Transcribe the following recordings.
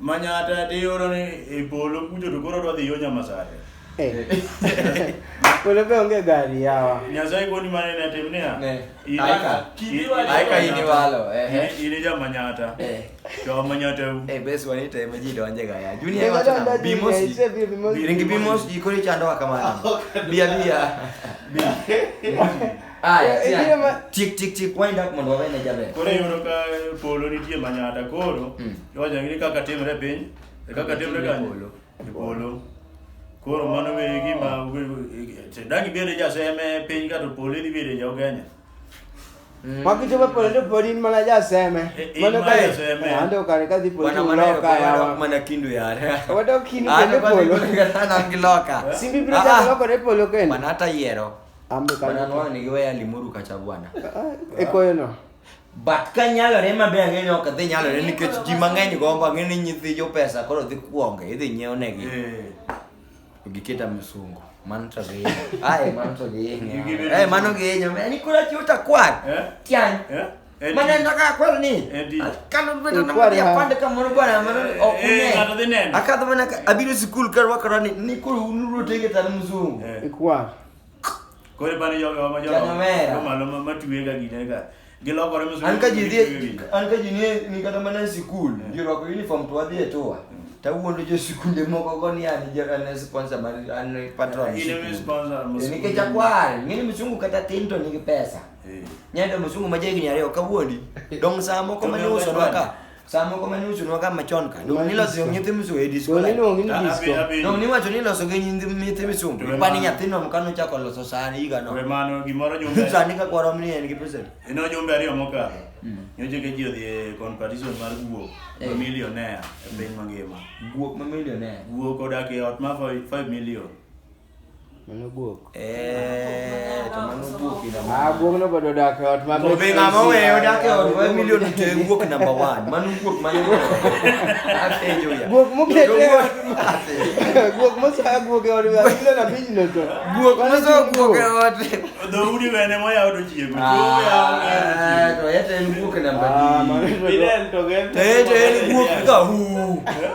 Manyata ti oro ni e polo kucho to koro dwa dhi yo Nyamasare. Polo be onge gari yawa. Nyasaye koni mane ne tim niya. Ne. In- Aika. in- Aika in- iniwalo, ehe. in- In ja Manyata. Eh. Jo Manyata u. Eh, bes wani teme ji donje ga ya. Junior Nyasaye wacho nang'o? adonje, Bimos ji. ise bi bimos ji. Ringi bimos ji koro ichandowa kamano. Biya biya. Aya, Eh, eh, tiang. ma- Tik tik tik wind up mondo wawene jaber. Koro iyudo ka polo nitie manyata koro Mm. iwacho ni kaka timre e piny e kaka timre Timre kanye polo. e polo koro mano be gima dagi bede jaseme piny kato polo idhi bede jaugenya Wakichopo pole to podi in mana jaseme. Eh, in Mano mana kare- jaseme. Eh, ande ukare kadhi podi Wana to maneno uloka kwa yawa. wana mana kindu yare. Wadok kindu Ah, kendo nobody polo. gonna get an angiloka. Simbi biro Ah, ah. chako lokore polo kendo. Mana hata yiero. ekoyeno but ka nyalore maber ang'e ok dhi nyalore nikech ji mang'eny gombo ang'e ni nyithi jopesa koro dhi kuonge idhi nyiew negi eh. giketa misungo mano to gihinyo ae mano to gihinyo ae mano gihinyo ni kura chiwo takwar eh? tiany eh? manenda ka kwero ni kana vita na mari apande ka mono bwana mono okune kata de nene akadha mana abiro sikul kar wakara ni ni ko unuru tege tan mzungu ikwa kore bana yo yo ma yo ko malo ma matuwe ga gine ga gilokore mzungu an ka jidhi an ka jini ni kata mana sikul jiro ko uniform to adhi etoa tawuondo jo sikunde moko go ni an jo an sponsor mar an patron ni ke chakwar ngini mzungu kata tinto ni pesa Eh. Nyado msungu majegi ni areo kawuondi. Dong saa moko mane uso nwaka. Saa moko mane uso nwaka machon ka. Dong niloso yo nyithi msungu e disco. Dong niloso ngithi disco. Dong niwacho niloso gi nyithi nyithi msungu. Pani nyathino mkano chako loso saa ni higa no. Kwe mano gimoro jumbe. Saa ni ka kwaro mni en gi pesa. Ino jumbe ariyo mokalo. Mm. Nyoche ke jio dhie competition mar guo. Eh. Millionaire. E piny mangima. Guo ma millionaire. Guo kodak e ot ma 5 million. Mano guok. Eh, to mano guok ina. Ah, guok no bodo dak ot ma. To be ngama weyo dak e ot weyo milion to e guok number 1. Mano guok ma yego. Apenjo ya. Guok mo kete. Guok mo sa guok e ot milion na piny no to. Guok mo sa guok e ot. Do udi wene mo yawo do chiemo. Ah, to yete en guok number 2. Ah, mano to. Ile to gen. Te te en guok ka hu.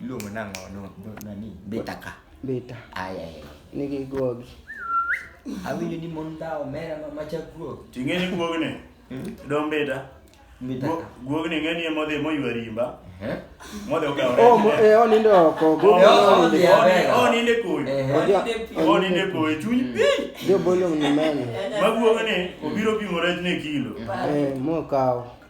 Iluongo nang'o no nani? Beta ka. Beta. Ai ai. Nigi guogi. Awinjo ni mon ta omera ma macha guog. Ting'e ni guog ni. Hmm? Dom beta. Beta. Guog ni ng'eni emo dhi moywa rimba. Eh? Modhi okawo. Oh, mo e eh, onindo oko. Guog ni onindo oko. Onindo koi. Onindo koi chuny pi. Jo bolo ni mene. Ma guog ni obiro pimo rech ne kilo. Eh, mo kawo.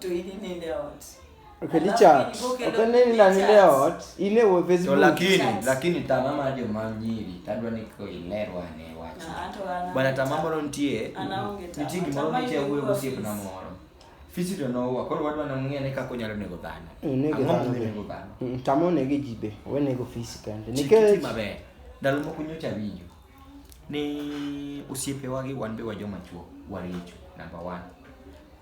To in inind e ot. Okay, Alafu Richard. ni go kelo Okay, nini na nile pictures. ot? Ile we to Facebook. lakini Chat. lakini tama mar joma nyiri tadwa ni ko ilerwa ne wach Na hata wana- bwana tama moro nitie Anaonge tama. nitie gimoro Tama nitie wuoyo yuko gosiep na office. moro fisi to nowa koro wadwa namng'e ni kaka onyalo nego dhano Onego Ang'o dhano momiyo be. nego dhano Mm, Tama onego ji be. Onego fisi kende. Chik iti Nikech maber ndalo moko nyocha winjo ni osiepewa gi wan be wa joma chuo waricho number one.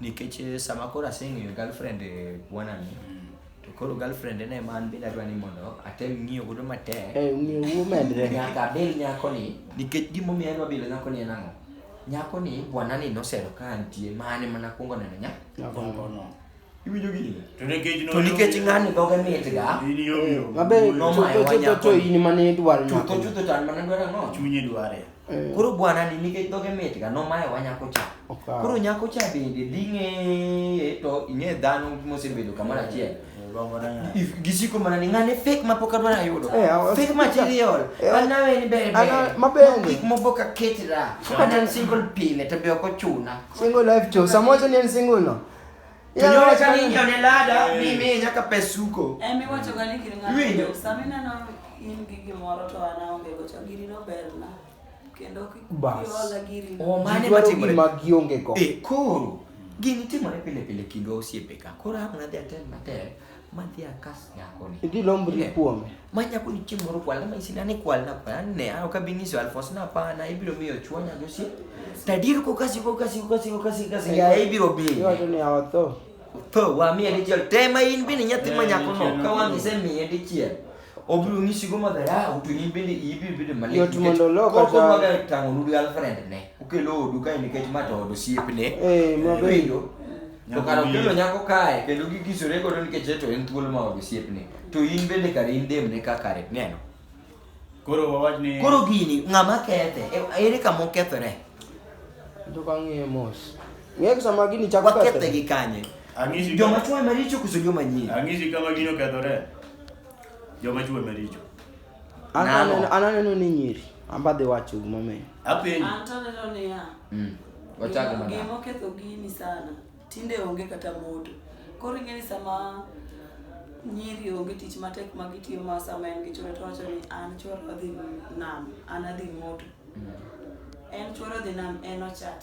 Nikech eh, sama koro aseng'eyo girlfriend eh, bwana ni, to koro girlfriend en ema an bende adwa ni mondo atem ng'iyo godo matek. Eh, ng'eyo wuo medre. Nyaka abil nyako ni, nikech gimomiyo adwa bilo nyako ni en ang'o? Nyako ni bwana ni nosero ka antie, mane mana kuongo neno nya. Nyako no. Iwinjo gini? To nikech To nikech ng'ani dhoge mitga, in yo yo. Mabe Nomayo chutho chutho wanyako. to in mane idwaro chutho nyako. chutho to an mana dwaro ang'o? Chunye dware. Eh, Koro bwana ni nikech dhoge mitga nomayo wa nyako cha. Okawo. Koro nyako cha bende dhi ng'eye to ing'e dhano mosebedo kamoro achiel. Gombo na ng'ato. If- Gisiko mana ni ng'ane fake ma pok adwaro ayudo. Eh, awa- Fake material. Eh, An nawe ni ber ana- ber. maber. Gik moko ka ketira. Kata en single pile to be ok ochuna. Single life to. Samoja ni en single no. Tunyore ka ninyo ne lada mi mi nyaka pesuko. Emi eh, wacho gani kiri ng'ato. Samina no in gi gimoro to an aonge go to giri no berna. Kendo kiola giri. O mane matimore ma gionge go. E koro gini timore pile pile kindwa osiepe ka. Koro hapna dhi atem matek. Madhi akas nyako ni. Idhi lombo ni kuome. Ma nyako ni chieng' moro kwal, ma isina ni kwal na kwal, ne a oka bini so alfos na pa na ibiro miyo chuo nya gosi. Tadir ko kasi ko kasi ko kasi ko kasi kasi ya ibiro bi. Iwacho ni awatho. Tho wa miye dichiel. Tema in bini nyathi ma nyako no, ka wang'ise miye dichiel. obiro ng'isi go ma dharau to in bende iyi biro bedo malit Yot nikech mondo olok koko ataro. maga tang'o nudu girlfriend ne ukelo odu kae nikech ma to od osiepne Eh, maber. winjo to kara Nyako okelo miyo. nyako kae kendo gigisore godo nikech to en thuolo ma od osiepne to in bende kare in dem ne ka kare neno Koro wawach ni koro gini ng'ama kethe e- ere kama okethore Tok ang'iye mos. Ng'e kisa ma gini chako Wakethe kethore. gi kanye? Ang'isi Joma chwo ema richo koso joma nyien? ang'isi kama gino kethore. Joma chwe maricho. An Nano. aneno- an aneno ni nyiri. Amba dhi wacho gimomiyo. Apenji. An to aneno niya, Mm. Wachak gima- madam. gima oketho gini sana tinde onge kata moto koro ing'e ni sama nyiri onge tich matek ma gitiyo ma sama en gi chwore to wacho ni an chwore odhi nam an adhi moto en chwore odhi nam en ochat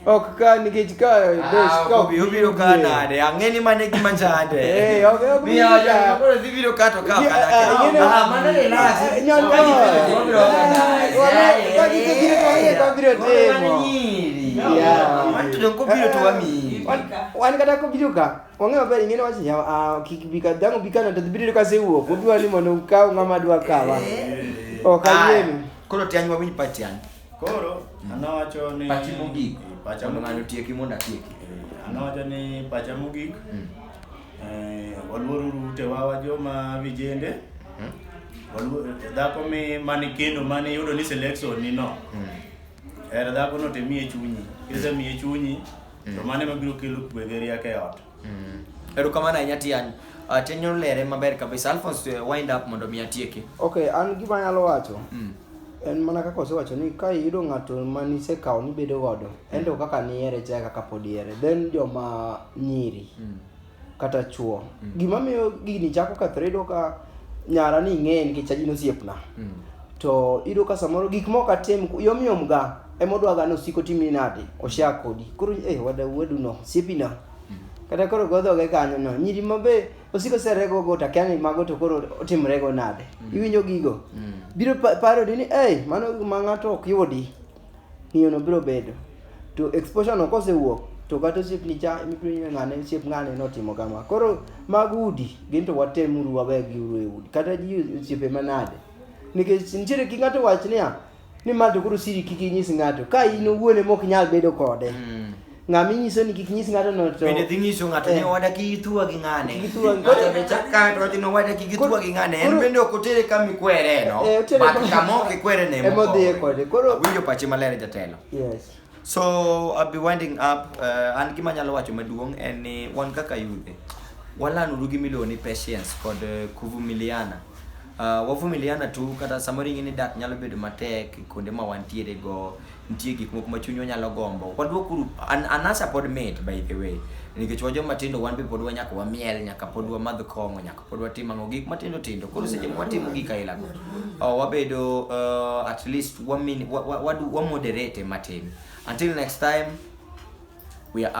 Ok ka nikech ka best ka ok biro ka nade ang'e ni mane gima chande eh ok ok mi ya ya koro dhi biro ka to ka ka ah mane le la nyo nyo ka gi gi ko ye ko biro temo ya man to ko biro to wami wan kata ko biro ka onge maber ing'e wach ya kik bi ka dango bi ka na to biro ka se wuok obiwa ni mondo ka ng'ama dwa kawa ok ayemi koro tianywa mi patian Koro mm. anawacho ni pachi mogik, eh, pacha mondo ng'ano tieki mondo atieki. Eh, anawacho ni pacha mogik, mm. eh, waluoruru utewa wa joma vijende mm. dhako mi mani kendo mani yudo ni selection ni no mm. er dhako no temie chunyi kise mm. mie chunyi mm. to mane mabiro kelo kwe gi rieko e ot mm. erokamano ahinya tiani uh, ah, tenyo lere maber kabisa alphonse uh, wind up mondo mi atieki okay an gima nyalo wacho mm. en mana kaka osewacho ni ka iyudo ng'ato ma nisekawo nibedo godo mm. ento kaka nihere cha kaka pod ihere then joma nyiri mm. kata chuo mm. gima miyo gini chako kethre iyudo ka nyara ni ing'eye nikech ajin osiepna mm. to iyudo ka samoro gik moko atim yomyom ga emodwa ga ni osiko timni nade osha kodi koro eh wada weduno siepina mm. kata koro godhoge kanyono nyiri mabe osiko serego go to akia ni mago to koro otimrego nade mm. iwinjo gigo mm. biro parodi ni ei mano ma ng'ato ok yudi ng'iyono biro bedo to exposure no kosewuok to kata osiepni cha mipinywe ng'ane osiep ng'ane notimo kama koro mag udi gin to watemuru wawegi uru e udi kata ji osiepe manade nikech nitiere gi ng'ato wach niya ni ma to koro siri kik inyis ng'ato ka in owuon ema ok nyal bedo kode Mm. ng'ama inyiso ni kik inyis ng'ato no to Bende dhi nyiso ng'ato ni Eh. owada kik ithua gi ng'ane. Kik ithua gi- Ng'ato be chak kae to wacho ni owada kik ithua gi ng'ane. En Koro- bende ok otere kama ikwere no. Eh, otere But kama- kama ok ikwere ne ema odhiye kode. Koro- Awinjo pache maler jatelo. yes So I'll be winding up. Uh, an gima nyalo wacho maduong' en ni wan kaka yudhe walanuru gi miluongo ni patience kod eh, kuvumiliana. Uh, wavumiliana tu kata samoro ing'e ni dak nyalo bedo matek kuonde ma wantiere go nitie gik moko ma chunywa nyalo gombo wadwokuru an, anasa pod mit by the way nikech wajoma tindo wan be pod wanyaka wamiel nyaka pod wamadh kong'o nyaka pod watimo ang'o gik matindo tindo koro seche ma watimo gik aila go oh, wabedo uh, at least wamin wa, wa, wa, wa moderate matin until next time we are